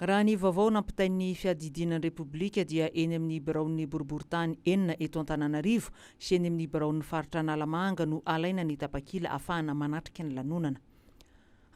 Raha ny vaovao nampitain'ny Fiadidiana ny Repoblika dia eny amin'ny biraon'ny boriborintany enina eto Antananarivo sy eny amin'ny biraon'ny faritra Analamanga no alaina ny tapakila hafahana manatrika ny lanonana.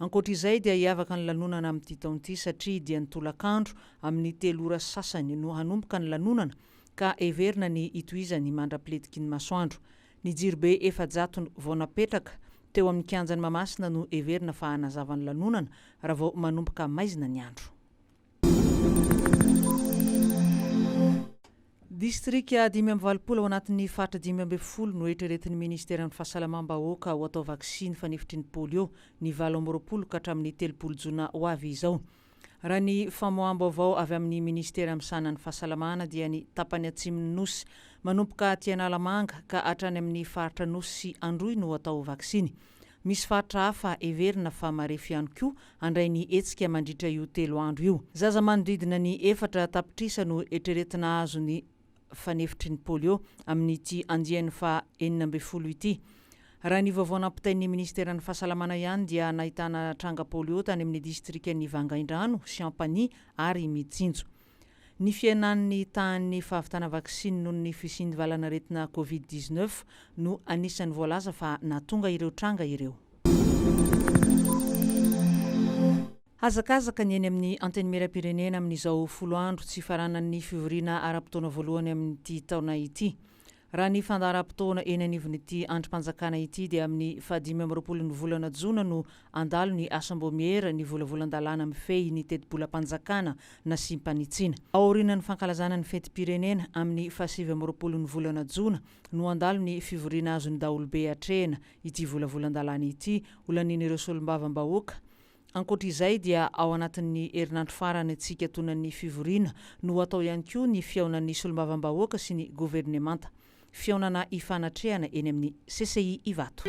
Ankoatra izay dia hiavaka ny lanonana amin'ity taona ity satria dia ny tolakandro amin'ny telo ora sy sasany no hanomboka ny lanonana ka heverina ny hitohizany mandra-piletiky ny masoandro. Ny jirobe efa-jatony vao napetraka teo amin'ny kianjan'i Mahamasina no heverina fa hanazava ny lanonana raha vao manomboka maizina ny andro. Distrika dimy amby valopolo ao anatin'ny faritra dimy ambin'ny folo no eritreretin'ny minisiteran'ny Fahasalamam-bahoaka ho atao vaksiny fanefitry ny polio ny valo amby roapolo ka hatramin'ny telopolo jona ho avy izao. Raha ny famoaham-baovao avy amin'ny Minisitera misahana ny Fahasalamana dia ny tapany atsimon'ny Nosy, manomboka aty Analamanga ka hatrany amin'ny faritra Nosy sy Androy no atao vaksiny. Misy faritra hafa heverina fa marefo ihany koa handray ny hetsika mandritra io telo andro io. Zaza manodidina ny efatra tapitrisa no eritreretina hahazo ny fanefitry ny polio amin'ity andiany faha enina ambin'ny folo ity. Raha ny vaovao nampitain'ny minisiteran'ny Fahasalamana ihany dia nahitana tranga polio tany amin'ny distrikan'i Vangaindrano, Chiampagny ary Mitsinjo. Ny fihenan'ny tahan'ny fahavitana vaksiny noho ny fisian'ny valan'aretina Covid dix neuf no anisan'ny voalaza fa nahatonga ireo tranga ireo. Hazakazaka ny eny amin'ny Antenimierampirenena amin'izao folo andro tsy hifaranan'ny fivoriana ara-potoana voalohany amin'ity taona ity. Raha ny fandaharam-potoana eny anivon'ity andrim-panjakana ity dia amin'ny fahadimy amby roapolo ny volana jona no handalo ny Asambômiera ny volavolan-dalàna mifehy ny tetibolam-panjakana nasiam-panitsiana. Ao aorianan'ny fankalazana ny fetim-pirenena, amin'ny fahasivy amby roapolo ny volana jona no handalo ny fivoriana azon'ny daholobe atrehina ity volavolan-dalàna ity, ho lanian'ireo solombavambahoaka Ankoatra izay dia ao anatin'ny herinandro farany tsy hikatonan'ny fivoriana no hatao ihany koa ny fihaonan'ny solombavambahoaka sy ny governemanta. Fihaonana hifanatrehana eny amin'ny CCI Ivato.